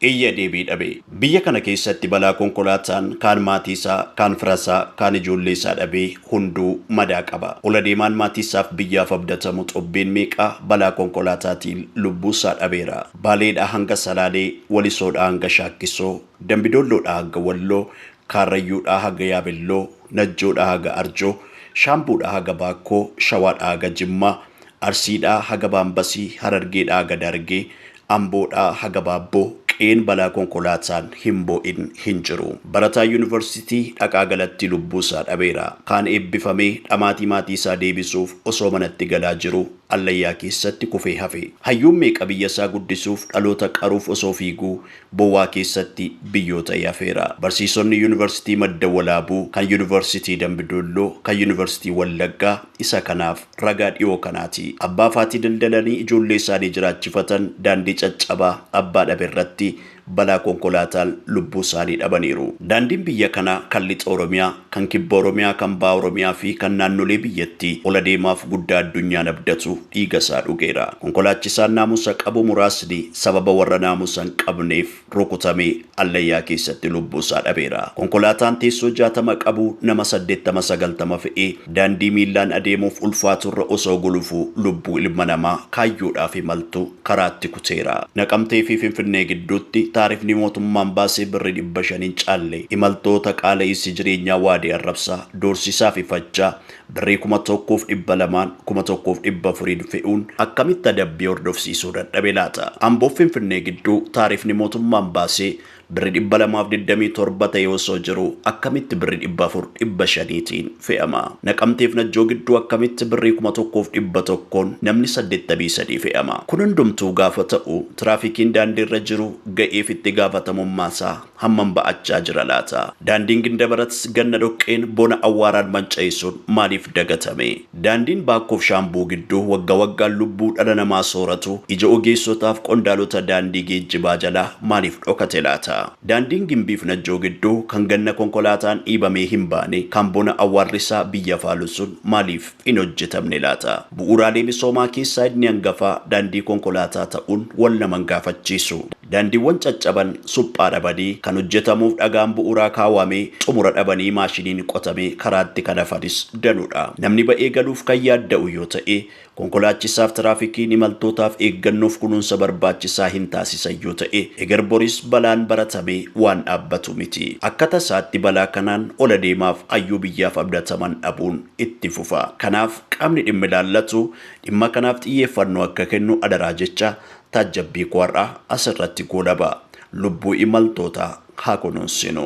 iyya deebii dhabe. Biyya kana keessatti balaa konkolaataan kaan maatiisaa, kaan firasaa, kaan ijoolleesaa dhabee hunduu madaa qaba. Ol adeemaan maatiisaaf biyyaaf abdatamu Xobbeen meeqa balaa konkolaataatiin lubbuusaa dhabeera. Baaleedhaa hanga Salaalee, Walisoodhaa hanga Shaakkisoo, Dambidoolloodhaa haga Walloo, Kaarrayyuudhaa haga Yaabelloo, Najjoodhaa haga Arjoo, Shaambuudhaa haga Baakkoo, Shawaadhaa haga Jimmaa, Arsiidhaa haga Baambasii, Harargeedhaa haga Daargee, Amboodhaa haga Baabboo qe'een balaa konkolaataan hin boo'in hin jiru. Barataan Yuunivarsiitii Dhaqaa Galattii lubbuusaa dhabeera. Kaan eebbifamee dhamaatii maatiisaa deebisuuf osoo manatti galaa jiruu allayyaa keessatti kufee hafe. Hayyuun meeqa biyyasaa guddisuuf dhaloota qaruuf osoo fiiguu bowwaa keessatti biyyoo ta'ee hafeera. Barsiisonni Yuunivarsiitii Madda Walaabuu, kan Yuunivarsiitii Dambi Doolloo, kan Yuunivarsiitii Wallaggaa isa kanaaf. Ragaa dhiyoo kanaati. Abbaa faatii daldalanii ijoollee isaanii jiraachifatan daandii caccabaa abbaa dhabe irratti balaa konkolaataan lubbuu isaanii dhabaniiru. Daandiin biyya kanaa kan Lixa Oromiyaa, kan Kibba Oromiyaa, kan Baha Oromiyaa fi kan naannolee biyyattii ol adeemaaf guddaa addunyaan abdatu dhiiga isaa dhugeera. Konkolaachisaan naamusa qabu muraasni sababa warra naamusa hin qabneef rukutamee Allayyaa keessatti lubbuu isaa dhabeera. Konkolaataan teessoo 60 qabu nama 80, 90 fe'ee daandii miillaan adeemuuf ulfaatu irra osoo gulufuu lubbuu ilma namaa kaayyoodhaaf imaltu karaatti kuteera. Naqamtee fi Finfinnee gidduutti taarifni mootummaan baase birri 500 hin caalle imaltoota qaala'iinsi jireenyaa waadee arrabsaa, doorsisaa fi fachaa Birrii kuma tokkoof dhibba lamaan kuma tokkoof dhibba afuriin fe'uun akkamitti adabbii hordofsiisuu dadhabe laata? Amboof Finfinnee gidduu taarifni mootummaan baase birri dhibba lamaaf digdamii torba ta'ee osoo jiruu akkamitti birri dhibba afur dhibba shaniitiin fe'ama? Naqamteef Najjoo gidduu akkamitti birrii kuma tokkoof dhibba tokkoon namni saddettamii sadii fe'ama? Kun hundumtuu gaafa ta'u tiraafikiin daandiirra jiru ga'eef itti gaafatamummaasaa hammam ba'achaa jira laata? Daandiin Gindabarats ganna dhoqqeen, bona awwaaraan manca'e sun maaliif dagatame? Daandiin Baakkoof Shaambuu gidduu wagga waggaan lubbuu dhala namaa sooratu ija ogeessotaaf qondaalota daandii geejjibaa jalaa maaliif dhokate laata? Daandiin Gimbiif Najjoo gidduu kan ganna konkolaataan dhiibamee hin baane kan bona awwaarrisaa biyya faalu sun maaliif hin hojjetamne laata? Bu'uuraalee misoomaa keessaa inni hangafaa daandii konkolaataa ta'uun wal nama hin gaafachiisu. Daandiiwwan caccaban, suphaa dhabanii, kan hojjetamuuf dhagaan bu'uuraa kaawamee xumura dhabanii maashiniin qotamee karaatti kan hafanis danuudha. Namni ba'ee galuuf kan yaadda'u yoo ta'e, konkolaachisaaf tiraafikiin imaltootaaf eeggannoof kunuunsa barbaachisaa hin taasisan yoo ta'e, eger boris balaan baratamee waan dhaabbatu miti. Akka tasaatti balaa kanaan ol adeemaaf hayyuu biyyaaf abdataman dhabuun. itti fufa. Kanaaf qaamni dhimmi ilaallatu dhimma kanaaf xiyyeeffannoo akka kennu adaraa jecha taajjabbii koo har'aa asirratti goolaba. Lubbuu imaltootaa haa kunuunsinu.